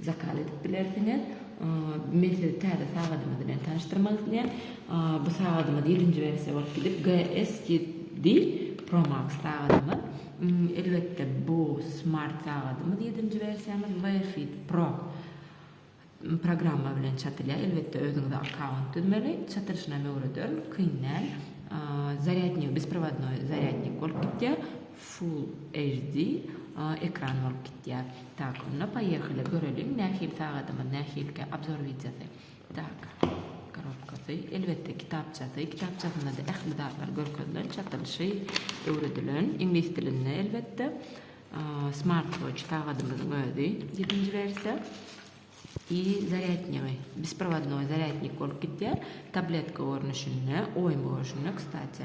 Zakaz edip bilersiňiz. Men sizi täze sagadymyz bilen tanyşdyrmak isleýän. Bu sagadymyz ýedinji wersiýa bolup gidip GSGD Pro Max sagadymyz. Elbetde bu smart sagadymyz ýedinji wersiýamyz WeFit Pro programma bilen çatylýar. Elbetde özüňize akkaunt düzmeli. Çatylyşyna hem öwrederin. Kyn däl. Zarýadnik, besprovadnoý zarýadnik bolup gidýär. Full HD ekran bolup gitýär. Tak onda poýehaly göreliň nähili sagadymyz nähilkä obzor wideosy. Tak korobkasy elbetde kitapçasy kitapçasynda-da ähli zatlar görkezilen çatylyşy öwredilen iňlis dilinde elbetde. Smart watch sagadymyzyň özi ýedinji wersiýa i zarýadnigy besprovadnoý zarýadnik bolup gitýär tabletka görnüşinde oýun görüşinde kstati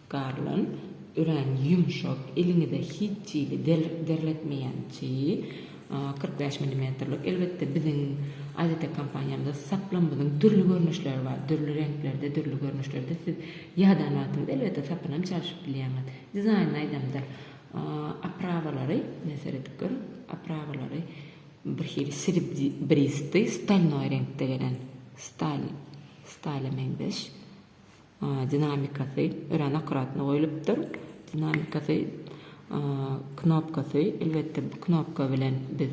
Garlan, örän ýumşak, eliňize hiç hili derletmeýän çyýy, kyrk bäş milimetrlik. Elbetde, biziň AZT kompaniýamyzda saplamyzyň dürli görnüşleri bar, dürli reňklerde, dürli görnüşlerde. Siz ýadan wagtyňyzda, elbetde, sapyny hem çalşyp bilýäňiz. Dizaýnyny aýdamda, oprawalary, ine, seredip görüň, oprawalary birhili srebristý, stolnoý reňkde gelen, stal, stala meňzeş. Dinamikasy örän akkuratno goýlupdyr. Dinamikasy knopkasy, elbetde bu knopka bilen biz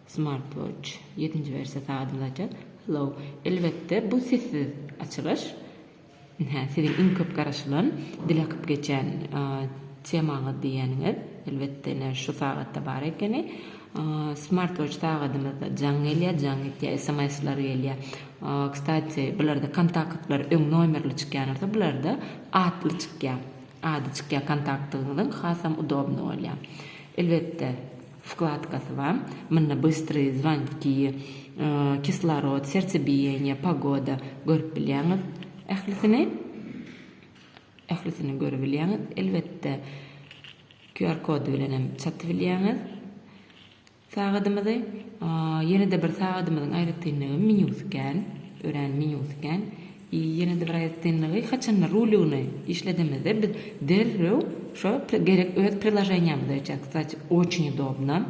smartwatch ýedinji wersiýa sagadymyzy açýas. Hello, elbetde bu sessiz açylyş. Hä, siziň iň köp garaşylan, dil akyp geçen temaňyz diýýäniňiz, elbetde ine şu sagatda bar ekeni. Smartwatch sagadymyzda jaň gelýär, jaň etýär, sms-ler gelýär. Kstati, bularda kontaktlar öň nomerli çykýan bolsa, bularda atly çykýar. Ady çykýar kontaktyňyzyň, hasam udobny bolýar. Elbetde, wkladkasy bar. Munda bystrý, zwanki, kislorod, sertsebiýeniýe, pogoda görüp bilýäňiz ählisini. Ählisini görübilýäňiz, elbetde. QR kody bilen hem satyp bilýäňiz sagadymyzy. Ýene-de bir sagadymyzyň aýratynlygy menýusy kän, örän menýusy kän. I ýene-de bir aýratynlygy haçanda rulony işledemizde biz derrew şo gerek öz priloženiýamyzy açýas. Kstati, oçin udobno.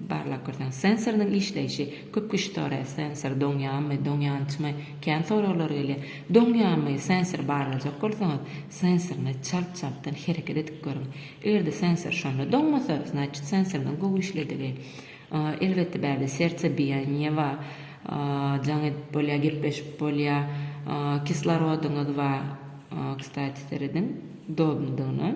Barlagkürtüň sensorynyň işleýşi, köp kişi soraýar, sensor doňýarmy, doňýançymy, kän soraglar gelýär. Doňýarmy, sensory barlajak bolsaňyz, sensoryňy çalt-çaltdan hereket edip görüň. Eger-de sensor şonda doňmasa, znaçit sensorynyň gowy işledigi. Elbetde bärde serçe biýaniýe bar, jaň edip bolýar, gepleşip bolýar, kislorodyňyz bar, kstati serediň doludygyna.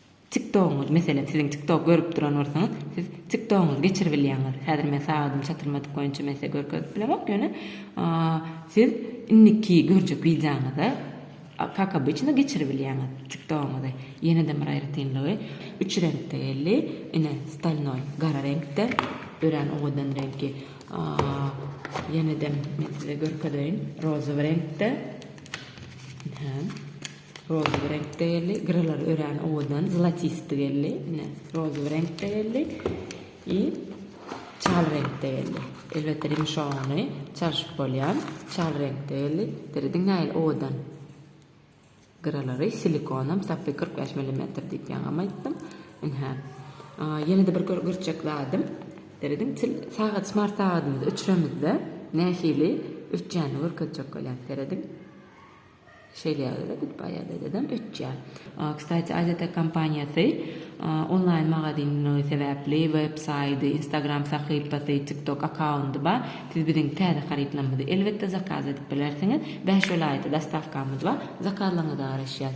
Tiktogyňyz, meselem, siziň tiktok görüp duran bolsaňyz, siz tiktogyňyzy geçirip bilýäňiz. Häzir men sagadym çatyrmadyk boýunça men size görkezip bilemok, ýöne siz indiki görjek wideoňyzy kak obyçno geçirip bilýäňiz tiktogyňyzy. Ýene-de bir aýratynlygy, üç reňkde geldi, ine, stolnoý, gara reňkde, örän owadan reňki. Ýene-de men size görkezeýin, rozowy reňkde. Rožowy reňkde geldi. Gyralar örän owadan, zlatistdi geldi. Ine, rožowy reňkde geldi. I çal reňkde geldi. Elbetde rimşogony çalşyp bolýar. Çal reňkde geldi. Diri diňäýeli owadan. Gyralary silikonam sapy 45 millimetr diýip ýaňam aýtdym. Ynha. Ýene-de bir görjek zadym. Serediň, til sagat smart sagadymyzy öçüremizde nähili öçýänini görkezjek bolýan. Serediň. Şeýlelikde, Gudbaýadydadam öçýär. Kstati, AZT kompaniýasy onlaýn magazinligi sebäpli web saýdy, Instagram sahypasy, TikTok akkaundy bar. Siz biziň täze harytlarymyzy elbetde zakaz edip bilersiňiz. Bäş welaýata dostawkamyz bar. Zakazlaryňyza garaşýas.